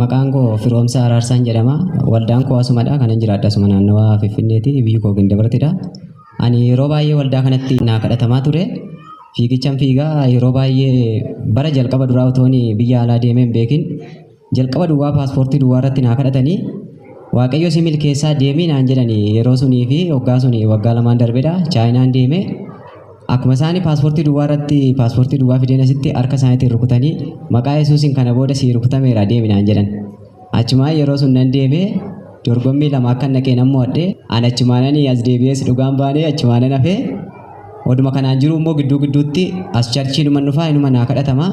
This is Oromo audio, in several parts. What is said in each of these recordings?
Maqaan koo Firoomsaa Araarsaan jedhama. Waldaan koo asumadha. Kanan jiraadhu asuma naannawaa Finfinneeti. Biyyi koo Gindabartidha. Ani yeroo baay'ee waldaa kanatti naa kadhatamaa ture. Fiigichan fiigaa yeroo baay'ee bara jalqaba duraa otoon biyya alaa deemee hin beekin Jalqaba duwwaa paaspoortii duwwaa irratti naa kadhatanii Waaqayyo si milkeessaa deemii naan jedhani yeroo sunii fi waggaa suni waggaa lamaan darbedha chaayinaan deeme akkuma isaani paaspoortii duwwaa irratti paaspoortii duwwaa fideen asitti harka isaaniitiin rukutanii maqaa yesuusin kana booda sii rukutameera deemi naan jedhan achumaa yeroo sun nan deeme dorgommii lama akka naqee nan mo'adhe an achumaananii as deebi'ees dhugaan baanee achumaanan hafee oduma kanaan jiru immoo gidduu gidduutti as charchii numan dhufaa inuma naa kadhatamaa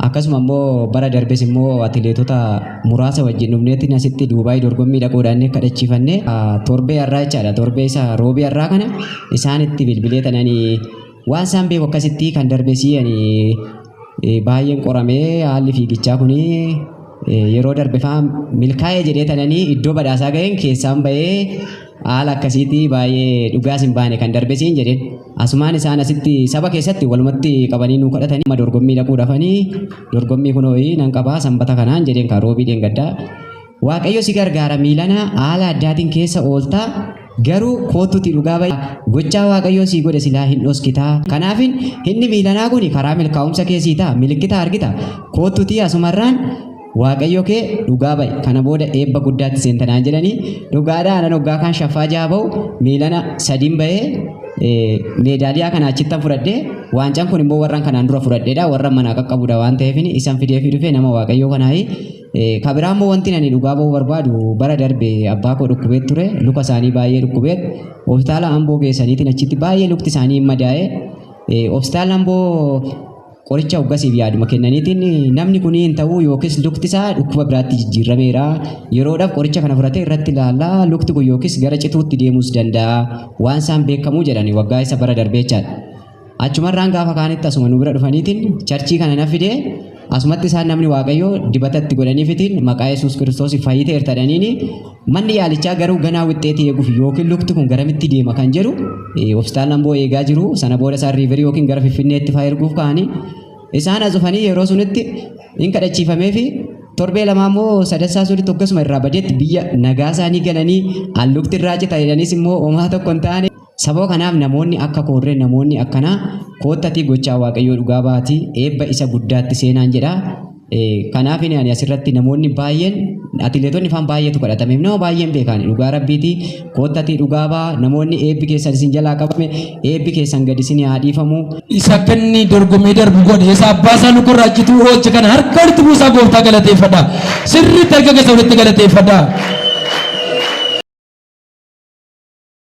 Akkasuma immoo bara darbes immoo atileetota muraasa wajjin dhufneetiin asitti Duubaay dorgommii dhaquudhaan kadhachiifanne torbee har'aa jechaadha. Torbee isa roobii har'aa kana isaanitti bilbilee tanani waan isaan beeku akkasitti kan darbesii ani baay'een qoramee haalli fiigichaa kun yeroo darbe fa'aa milkaa'ee jedhee tanani iddoo badhaasaa ga'een keessaan ba'ee haala akkasiitii baay'ee dhugaas hin baane kan darbesiin jedheen. Asumaan isaan asitti saba keessatti walumatti qabanii nuu kadhatanii amma dorgommii dhaquu dhafanii dorgommii kunoo nan qabaa sanbata kanaan jedheen kaa roobii dheengaddaa. Waaqayyo si gargaara miilana haala addaatiin keessa ooltaa garuu kootutti dhugaa bahi gochaa waaqayyoo sii godhe silaa hin dhoskitaa kanaafin inni miilanaa kun karaa milkaa'umsa keessii ta'a milikkita argita kootutti asumarraan Waaqayyo kee dhugaa ba'i kana booda eebba guddaatti seenta naan jedhanii dhugaadhaa nan hoggaa kaan shaffaa jaha ba'u miilana sadiin ba'ee eh, meedaaliyaa kana achittan fudhadhee waancaan kun immoo warran kanaan dura fudhadheedha warran manaa qaqqabudha waan ta'eef isan fideefii dhufee nama waaqayyoo kanaayi Eh, ka biraa immoo wanti ani dhugaa ba'uu barbaadu bara darbe abbaa koo dhukkubee ture luka isaanii baay'ee dhukkubee hospitaala amboo geessaniitiin achitti baay'ee lukti isaanii hin madaa'e Eh, hospitaala amboo Qoricha hoggasiif yaaduma kennaniitiin namni kun hin ta'uu yookiis lukti isaa dhukkuba biraatti jijjiirrameera. Yeroodhaaf qoricha kana fudhatee irratti ilaalla. Lukti kun yookiis gara cituutti deemuus danda'a. Waan isaan beekamuu jedhani waggaa isa bara darbee jechaadha. Achumarraan gaafa kaanitti asuma nu bira dhufaniitiin charchii kana na fidee asumatti isaan namni waaqayyoo dibata itti godhaniifitiin maqaa Yesuus Kiristoos fayyiteerta jedhaniini Manni yaalichaa garuu ganaa wixxeetii eeguuf yookiin lukti kun garamitti deema kan jedhu hospitaala Amboo eegaa jiru. Sana booda isaan riiverii yookiin gara Finfinneetti fa'aa erguuf ka'anii isaan as dhufanii yeroo sunitti hin kadhachiifamee fi torbee lamaa immoo sadassaa sunitti akkasuma irraa badeetti biyya nagaa isaanii galanii allukti irraa cita jedhaniis immoo homaa tokko hin taane. Sababa kanaaf namoonni akka koorree namoonni akkanaa koottatii gochaa Waaqayyoo dhugaa ba'atii eebba isa guddaatti seenaan jedha. Kanaafin ani asirratti namoonni baay'een atileetonni faan baay'eetu kadhatameef nama baay'een beekaani dhugaa rabbiiti koottatii dhugaa ba'a namoonni eebbi keessan isin jalaa qabame eebbi keessan gadi isin haa dhiifamu. Isa akka inni dorgomee darbu godhe isa abbaa isaa nu gurraachituu oolche kana harka walitti buusaa gooftaa galateeffadha. Sirriitti harka keessa walitti galateeffadha.